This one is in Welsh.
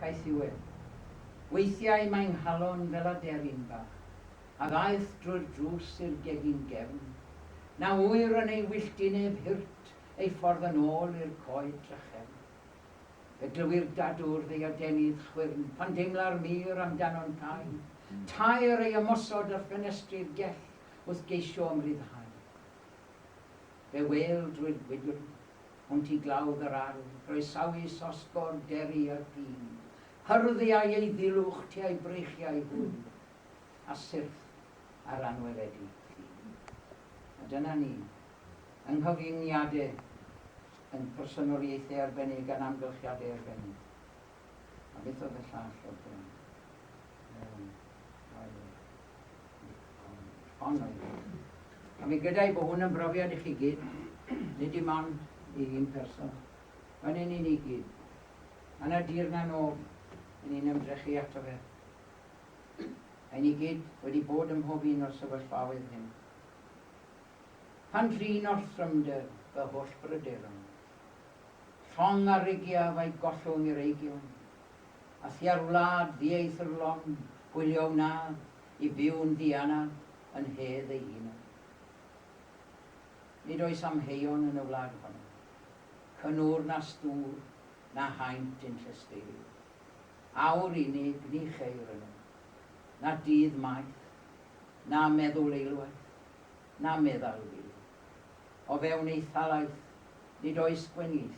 Caethiwed. Weithiau mae 'nghalon fel aderyn bach, a ddaeth drwy'r drws i'r gegin gefn. Na ŵyr yn ei wyllt i neb hirt ei ffordd yn ôl i'r coed drachefn. Fe glywir dadwr ddeadenydd chwyrn pan deimla'r mur amdano'n cau taer ei ymosod ar ffenestri'r gell wrth geisio ymryddhau. Fe wêl drwy'r gwydr hwnt i glawdd yr ardd, groesawus osgordd deri yr ffin, hyrddiau ei ddilwch tua'i breichiau hwy, a syrth ar anweledi ffin. A dyna ni, yng nghyfyngiadau, yn personoliaethau arbennig a'n amgylchiadau arbennig. A beth oedd y llall oedd gen i? Wel, dau le. Ond oedd e. A fi'n gyda'i bod hwn yn brofiad i chi gyd, nid dim ond i un person. Mae'n un i ni gyd. A na dir na nof, yn ni'n ymdrechu ato fe. Ein ni gyd wedi bod ym mhob un o'r sefyllfaoedd hyn. Pan drin orthrymder fy holl bryderon. Llong a rigia fai gollwng i'r eigion, a thua'r wlad ddieithrlon gwylio wnaf i byw'n ddianaf yn nhedd ei hunan. Nid oes amheuon yn y wlad honno, cynnwr na stŵr na haint yn llesteirio. Awr unig ni cheir yno, na dydd maith, na meddwl eilwaith, na meddal fyw. O fewn ei thalaith nid oes gwenieithu.